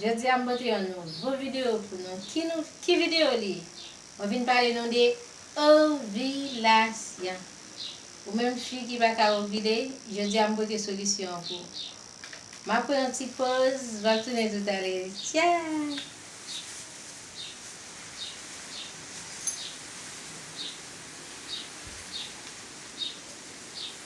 Jodia m pote yon nouvo video pou nou ki nou ki video li ye mwen vin pale nou de ovilasyon ou menm fi ki pa ka ovile jodia m pote solisyon an pou ou map pran yon ti poz map tounen tou tale ciao.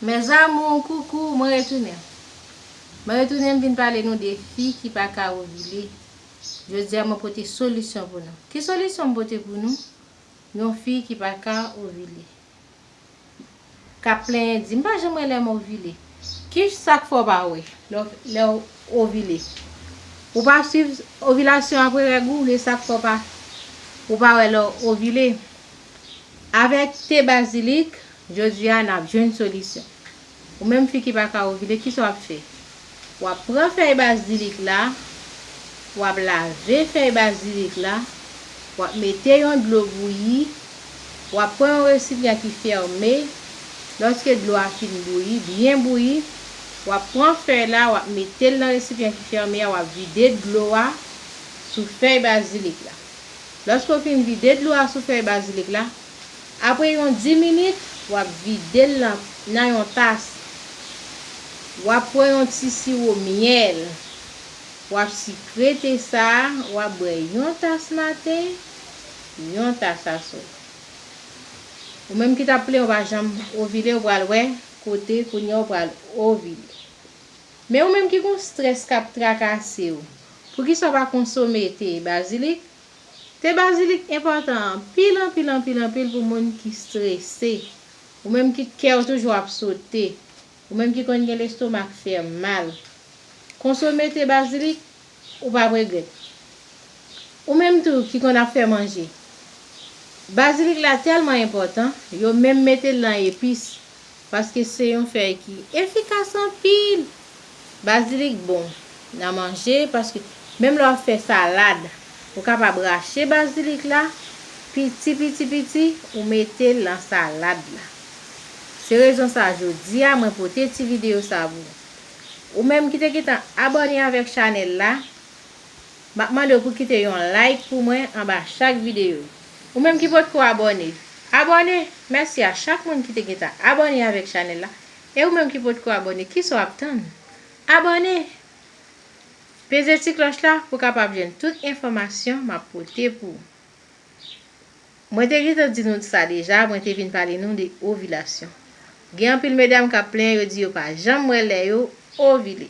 Mes amours coucou mwen retounen Mwen retounen m vin pale nou de fi ki paka ovile. Jodi a mwen pote solisyon pou nou. Ki solisyon m pote pou nou? Yon fi ki pa ka ovile. K ap plenyen di, m pa janm wè lè m ovile. Ki sa k fè w pa wè lè w ovile? Ou pa swiv ovilasyon apre règ ou? Oubyen sa k fè ou pa wè lè w ovile? Avèk te bazilik, jodi a n ap jwenn solisyon. Ou menm fi ki pa ka ovile kisa wap fè? Wap pran fèy bazilik la, wap lave fèy bazilik la, wap mete yon dlo bouyi, wap pran yon resipyan ki fème, lòske dlo a fin bouyi, byen bouyi, wap pran fèy la wap metel nan resipyan ki fème a wap vide dlo a sou fèy bazilik la. Lòske ou fin vide dlo a sou fèy bazilik la, Apre yon 10 minit, wap vide l nan yon tas. Wap pran yon ti siwo myèl. Wap sikre te sa a, wap bwè yon tas maten, yon tas aswè. Ou menm ki tap plenyen ou pa janm ovile ou pral wè kote kounye a ou pral ovile. Men ou menm ki gon strès kap trakase ou, poukisa ou pa konsome te bazilik Te bazilik enpòtan anpil anpil anpil anpil pou moun ki strese, ou menm ki kèw toujou ap sote, ou menm ki konn gen lestomak fè mal. Konsome te bazilik ou pap regrèt. Ou menm tou ki konn ap fè manje. Bazilik la tèlman enpòtan, yo menm metel lan epis paske se yon fèy ki efikas anpil. Bazilik bon nan manje paske menm lè wap fè salad ou kapab rache bazilik la piti piti piti ou metel nan salad la. Se rezon sa jodia mwen pote ti video sa pou ou menm ki te gentan abòne avèk chanèl la. Map mandew pou kite yon like pou mwen anba chak video. Ou menm ki potko abone, abone! Mèsi a chak moun ki te gentan abone avèk chanèl la e ou menm ki potko abone kisa w ap tann? Abone! Peze ti klòch la pou kapab jwenn tout enfòmasyon map pote pou ou. Mwen te gentan di nou sa deja mwen te vin pale nou de ovilasyon. Gen anpil medam kap plenyen yo di yo pa janm wè lè yo ovile.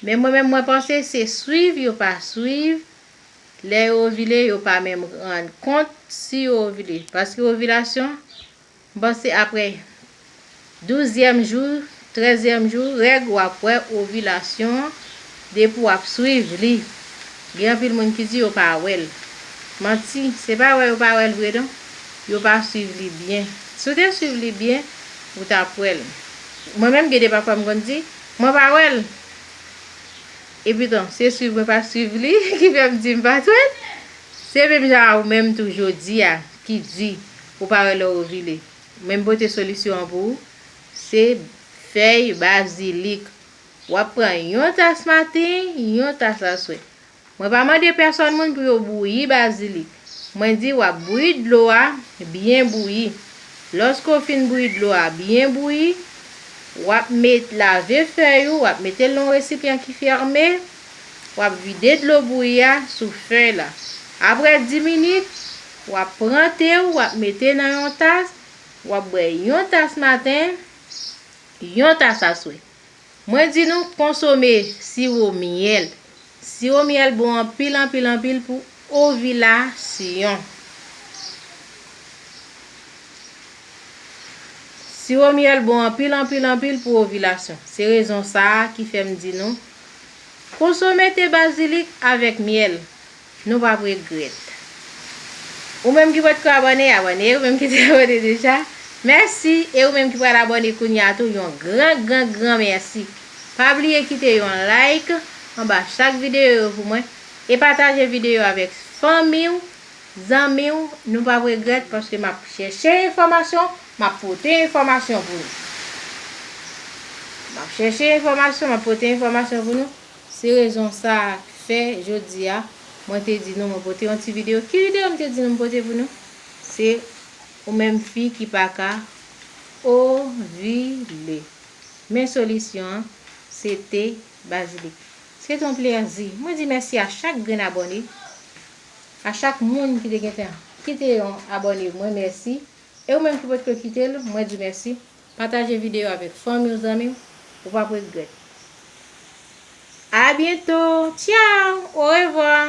Men mwen menm mwen panse se swiv yo pa swiv lè yo ovile yo pa menm rann kont si yo ovile paske ovilasyon m panse aprè douzyèm jou trèzyèm jou règ wap wè ovilasyon an depi wap swiv li gen anpil moun ki di yo pa wèl manti se pa wè yo pa wèl vre non yo pa swiv li byen si w te swiv li byen ou tap wèl mwen menm gen de pafwa m konn di. Mwen pa wèl Eputan se swiv mwen pa swiv li ki fèm dim pat wèl Se menm jan a ou menm tou jodia ki di ou pa wè lè ou ovile Mwen pote solisyon an pou ou Se fèy bazilik Wap pran yon tas maten yon tas aswè Mwen pa mande pèsòn moun pou yo bouyi bazilik. Mwen di w'ap bouyi dlo a byen bouyi. Lòske w fin bouyi dlo a byen bouyi, w'ap met lave fèy ou, w'ap mete l nan yon resipyan ki fèmen, w'ap vide dlo bouyi a sou fèy la. Aprè 10 minit, w'ap pran te ou, w'ap mete nan yon tas, w'ap bwè yon tas maten, yon tas aswè. Mwen di nou konsome siwo myèl. Siwo myèl bon anpil anpil anpil pou ovilasyon. Siwo myèl bon anpil anpil anpil pou ovilasyon. Se rezon sa a ki fè m di nou konsome te bazilik avèk myèl. Nou pap regret. Ou menm ki potko abone abone ou menm ki te abone deja mèsi e ou menm ki pral abone kounya tou yon gran gran gran mèsi pa bliye kite yon like anba chak videyo yo pou mwen e pataje videyo avèk fanmiw zanmiw nou pap regret paske map chèche enfòmasyon map pote enfòmasyon pou nou map chèche enfòmasyon map pote enfòmasyon pou nou. Se rezon sa k fè jodi a mwen te di nou mwen pote yon ti videyo. Ki videyo m te di nou m pote pou nou? Se Ou menm fi ki pa ka ovile. Men solisyon an, se te bazilik. Se te yon plèzi. Mwen di mèsi a chak grenn abòne, a chak moun ki te gentan kite yon abòne mwen mèsi. E ou menm ki potko kite l, mwen di mèsi. Pataje video avek fanmi w zanmi w ou pap regret. A bientôt ciao au revoir.